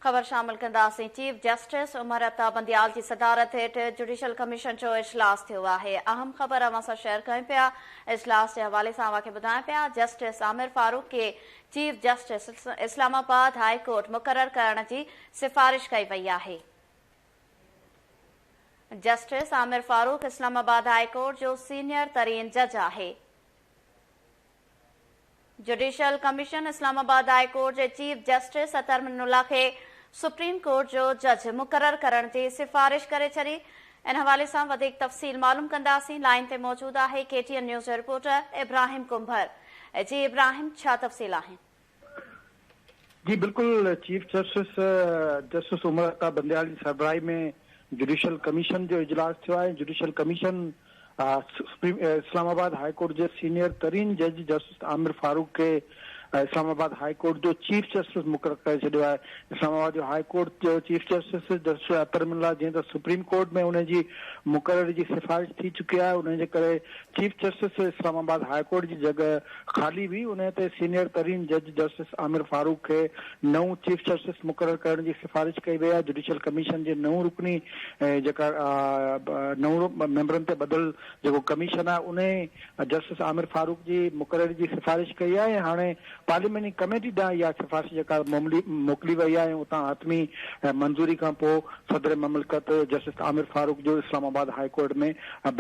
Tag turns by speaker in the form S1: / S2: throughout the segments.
S1: خبر شامل ڪنداسين. چيف جسٽس عمر عطا بنديال جي صدارت هيٺ جڊيشل ڪميشن جو اجلاس ٿيو آهي. اهم خبر اوهان سان شيئر ڪيون پيا. اجلاس جي حوالي سان اوهان کي ٻڌايون پيا جسٽس عامر فاروق کي chief justice Islamabad high court مقرر ڪرڻ جي سفارش ڪئي وئي آهي. Justice Amir Farooq Islamabad high court جو سينيئر ترين جج آهي. Judicial commission Islamabad high court جي chief justice Athar Minallah کي سپريم ڪورٽ جو جج مقرر ڪرڻ جي سفارش ڪري ڇڏي، ان حوالي سان وڌيڪ تفصيل معلوم ڪنداسين، لائين تي موجود آهي ڪي ٽي اين نيوز جو رپورٽر ابراهيم ڪنڀر، جي ابراهيم ڇا تفصيل آهن؟
S2: جي بلڪل chief justice justice Umar Ata Bandial جي سربراهي ۾ جوڊيشل ڪميشن جو اجلاس ٿيو آهي judicial commission Islamabad high court جي سينيئر ترين جج جسٽس عامر فاروق کي اسلام آباد هاء ڪورٽ جو چيف جسٽس مقرر ڪري ڇڏيو آهي اسلام آباد جو هاء ڪورٽ جو chief justice justice Athar Minallah جنهن ته سپريم ڪورٽ ۾ ان جي مقرر جي سفارش ٿي چڪي آهي ان جي ڪري chief justice Islamabad high court جي جڳهه خالي بي انهيء تي سينيئر ترين جج جسٽس عامر فاروق کي نئون چيف جسٽس مقرر ڪرڻ جي سفارش ڪئي وئي آهي، جڊيشل ڪميشن جي نو رڪني جيڪا نو ميمبرن تي ٻڌل جيڪو ڪميشن آهي انهي جسٽس عامر فاروق جي مقرري جي سفارش ڪئي آهي ۽ هاڻي پارلياميني ڪميٽي ڏانهن اها سفارش جيڪا موڪلي وئي آهي ۽ اتان حتمي منظوري کان پوء صدر مملڪت جسٽس عامر فاروق جو اسلام آباد هاء ڪورٽ ۾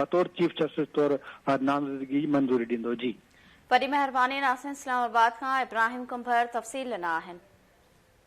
S2: بطور چيف جسٽس طور پر نامزدگي جي منظوري ڏيندو جي.
S1: وڏي
S2: مهرباني
S1: ناصر اسلام آباد
S2: کان
S1: ابراهيم ڪنڀر
S2: تفصيل
S1: ڏنا آهن.